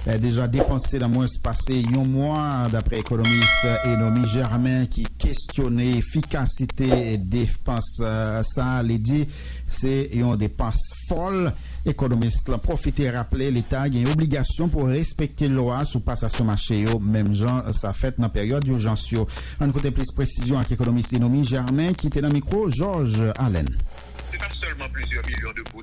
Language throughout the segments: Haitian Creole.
deja depanse nan mwens pase yon mwa, dapre ekonomis Enomie Germain ki kestyone efikasite depans sa a, li di se yon depans fòl. Ekonomis lan pwofite raple leta gen obligasyon pou respekte lwa sou pasasyon mache yo menm jan sa fèt nan peryòd ijans yo. Ann koute plis presizyon ak ekonomis Enomie Germain ki te nan mikwo Georges Alain. Se pa sèlman plizyè milyon de goud.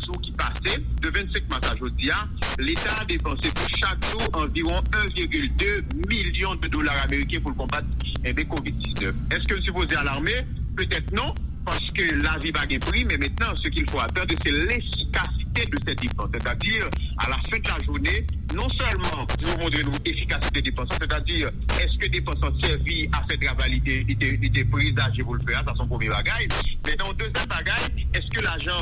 17 jou ki pase, de 25 mas a jodi a, Leta a depanse pou chak jou anviwon 1 virgil 2 milyon de dola ameriken pou l konbat enbe kovid 19. Eske l sipoze alarme? Petèt non, paske lavi pa gen pri, men mentnan se kil fo atande se lefikasite de sè depans, sètadi a la fen de la joune non sèlman pou yo montre nou efikasite depans lan, sètadi eske depans lan sèvi a fè travay li te prezaje pou l fè a, sa se yon premye bagay. Mentnan yon dezyèm bagay, eske lajan.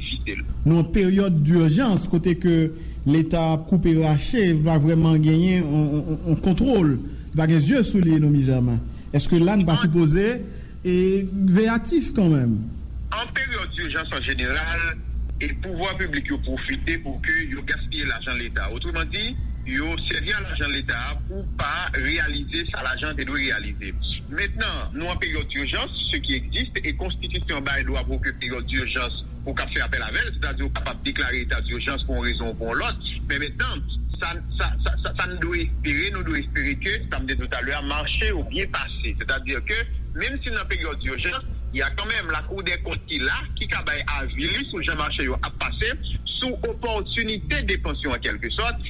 site l. Nou an peryòd durjans kote ke leta ap koupe rache li pa vrèman genyen yon kontwol li pa gen zye sou li enomi jaman eske la nou pa sipoze veyatif kanmenm. An peryòd durjans an jeneral pouvwa piblik yo pwofite pou ke yo gaspiye lajan leta otreman di yo sèvi a lajan leta pou pa reyalize sa lajan te dwe reyalize. Mentnan, nou an peryòd dirjans, ce qui existe, e konstitisyon bay dwa pou ke peryòd dirjans ou kab fè apèl avè l, sètadi ou kapab deklare eta dirjans pou yon rezon ou pou yon lòt. Men mentnan, sa, sa, sa, sa n dwe espere, nou dwe espere ke, sa m te di w talè a, mache yo byen pase. Sètadi ke, menm si n nan peryòd dirjans, y a kanmenm lakoudèkont ki la, ki ka bay avi li sou jan mache yo ap pase, sou opòtinite depans yo an kèlke sòt,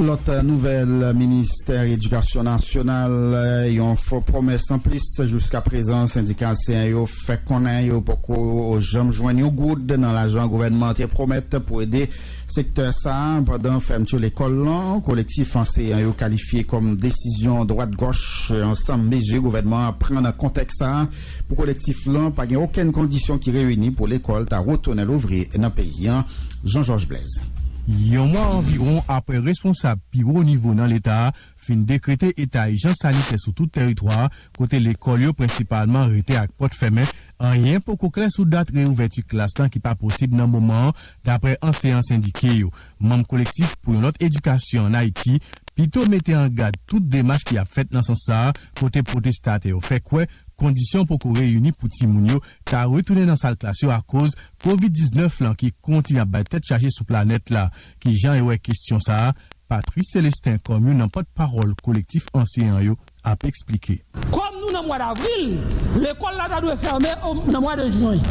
Lòt nouvèl Ministè Edikasyon Nasyonal, yon fo pwomès anplis, jiska prezan sendika anseyan yo fè konnen yo poko janm jwenn yon goud nan lajan gouvènman an te pwomèt pou ede sektè sa a pandan fèmti lekòl lan. Kolektif anseyan yo kalifye kòm desizyon dwat gòch ansanm mezi gouvènman an pran nan kontèks sa a. Pou Kolektif lan, pa gen okenn kondisyon ki reyini pou lekòl ta retounen louvri nan peyi an, Jean Georges Blaise. Yon mwa anviwon apre responsab pi wo nivo nan leta a fin dekrete eta ijans sanitè sou tout tèritwa a, kote lekòl yo prensipalman rete ak pòt fèmen, anyen poko klè sou dat reyouvèti klas lan ki pa posib nan moman an, daprè anseyan sendike yo. Manm Kolektif pou yon lòt edikasyon an Ayiti pito mete an gad tout demach ki ap fèt nan sans sa a kote pwotestatè yo fè kwè kondisyon poko reyini pou timoun yo ta retounen nan sal klas yo akoz Kovid 19 lan ki kontinye ap bay tèt chaje sou planèt la. Kijan yo wè kesyon sa a? Patrice Celestin kòm youn nan pòt pawòl Kolektif Anseyan yo. ap esplike. Kòm nou nan mwa davril, lekòl la ta dwe fèmen nan mwa de jwen.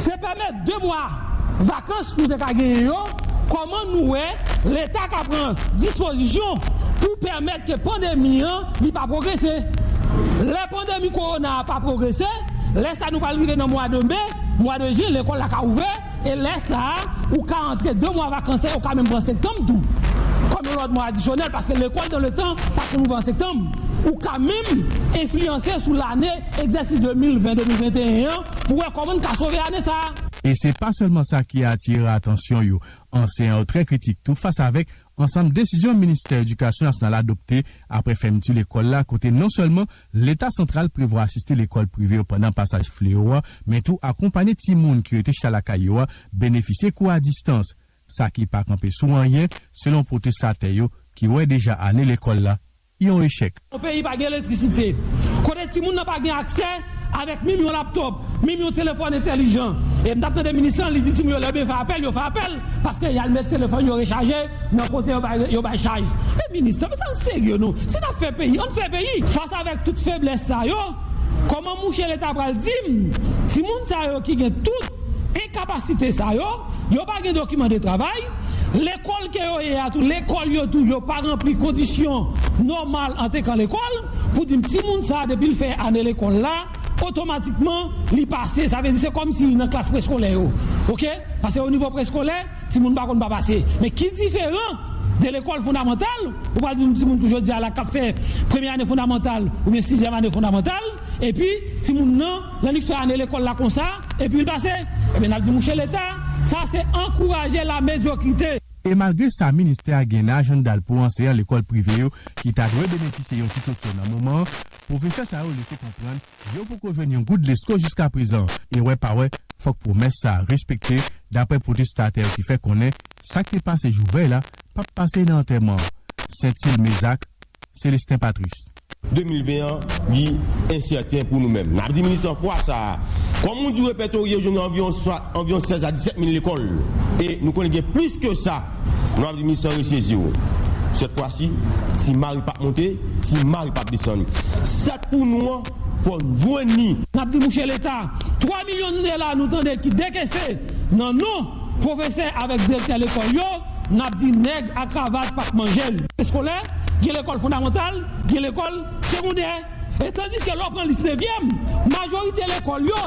Se pèmè 2 mwa vakans nou te ka genyen yo, kòman nou wè leta ka pran dispozisyon pou pèmèt ke pandemi an li pa pwogrese? Lè pandemi kowona a pa pwogrese, lè sa nou pral rive nan mwa de me, mwa de jen lekòl la ka ouvè, E lè sa a, ou ka antre 2 mwa vakans la, yo ka menm pran sektanm tou kòm yon lòt mwa adisyonèl paske lekòl nan letan pa konn ouvè an sektanm. Ou ka menm enfliyanse sou lane egzèsis 2020-2021 an pou wè kòman n ka sove ane sa a. E se pa sèlman sa ki atire atansyon yo. Anseyan yo trè kritik tou fas avèk ansanm desizyon ministè edikasyon nasyonal adopte apre fèmti lekòl la kote non sèlman Leta santral prevwa asiste lekòl prive yo pandan pasaj fleo a, men tou akonpanye timoun ki rete chita lakay yo a benefisye kou a distans, sa ki pa kanpe sou anyen, selon pwotestatè yo ki wè deja ane lekòl la yon echèk. Yon peyi pa gen elektrisite, kote timoun nan pa gen aksè avèk minm yon laptop, minm yon telefòn entèlijan. E m t ap tande minis lan, li di timoun yo lè yo bezwen apèl, yo fè apèl. paske yal met telefòn yo rechaje nan kote yo bay yo bay chaj men minis nan men sa nou serye nou si nap fè peyi ann fè peyi fas avèk tout feblès sa yo kòman mouche leta pral dim timoun sa yo ki gen tout enkapasite sa yo yo pa gen dokiman de travay lekòl ke yo ye a tou lekòl yo tou yo pa ranpli kondisyon nòmal antekan lekòl pou dim timoun sa depil fè ane lekòl la. otomatikman li pase sa vle di se kòm si nan klas preskolè yo ok paske o nivo preskolè timoun pa konn pa pase men ki diferan de lekòl fondamantal ou pral di yon timoun pou jodi a la kap fè premye ane fondamantal oubyen sizyèm ane fondamantal epi timoun nan lè li fè ane lekòl la konsa epi l pase ebyen nap di mouche leta sa se ankouraje la medyokrite. E malgre sa ministè a gen nan ajannda l pou anseyan lekòl prive yo ki ta dwe benefisye yon ti tchotcho nan moman an Pwofesè sa yo lese konprann yo poko jwenn yon goud lesko jiska prezan e wè pa wè fòk pwomès sa a respekte daprè pwotestatè yo ki fè konnen sa k te pase jou vèy la p ap pase nan antèman an. Sentil Mezak, Celestin Patrice. 2020 an li ensèten pou nou menm. N ap di minis lan fwa sa a, kòm ou di repètorye yo jwenn anviwon anviwon 16 a 17 mil lekòl e nou konnen gen plis ke sa. Nou ap di minis lan resezi w. Sèt fwa si, si Mari pap monte, si Mari pap desann. Sèt pou nou an, fò n jwenn ni. N ap di mouche Leta, 3 milyon dola nou tande ki dekese nan non pwofesè avèk direktè lekòl yo, n ap di nèg a kravat pap manje l. Eskolè, gen lekòl fondamantal, gen lekòl segondè. E tandiske lè w pran lis nevyèm, majorite lekòl yo,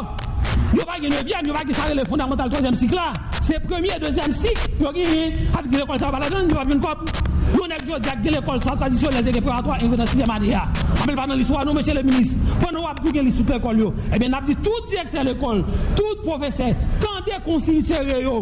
yo pa gen nevyèm, yo pa gen sa rele fondamantal twazyèm sik la, se premye, dezyèm sik yo genyen, sa vle di lekòl sa yo pa ladan l, yo pa p jwenn kòb. Yon nèg jodi a ki gen lekòl sa tradisyonèl te gen preparatwa 1 yo nan sizyèm ane a, men l pa nan lis ou a non mesye le minis. Pandan w ap di w gen lis tout lekòl yo, ebyen n ap di tout direktè lekòl, tout pwofesè, tande konsiy sere yo,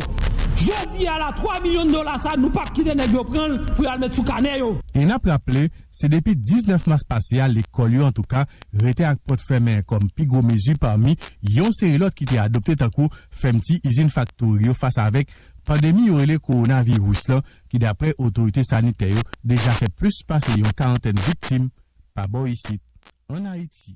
jodi a la 3 milyon dola sa nou pa p kite nèg yo pran l pou y al met sou kanè yo. E n ap raple, Se depi 19 mas pase a lekòl yo antouka rete ak pòt fèmen kòm pi gwo mezi pami yon seri lòt ki te adopte tankou fèmti izin faktori yo fas avèk pandemi yo rele kowonaviris lan ki daprè otorite sanitè yo deja fè plis pase yon karantèn viktim pa bò isit ann Ayiti.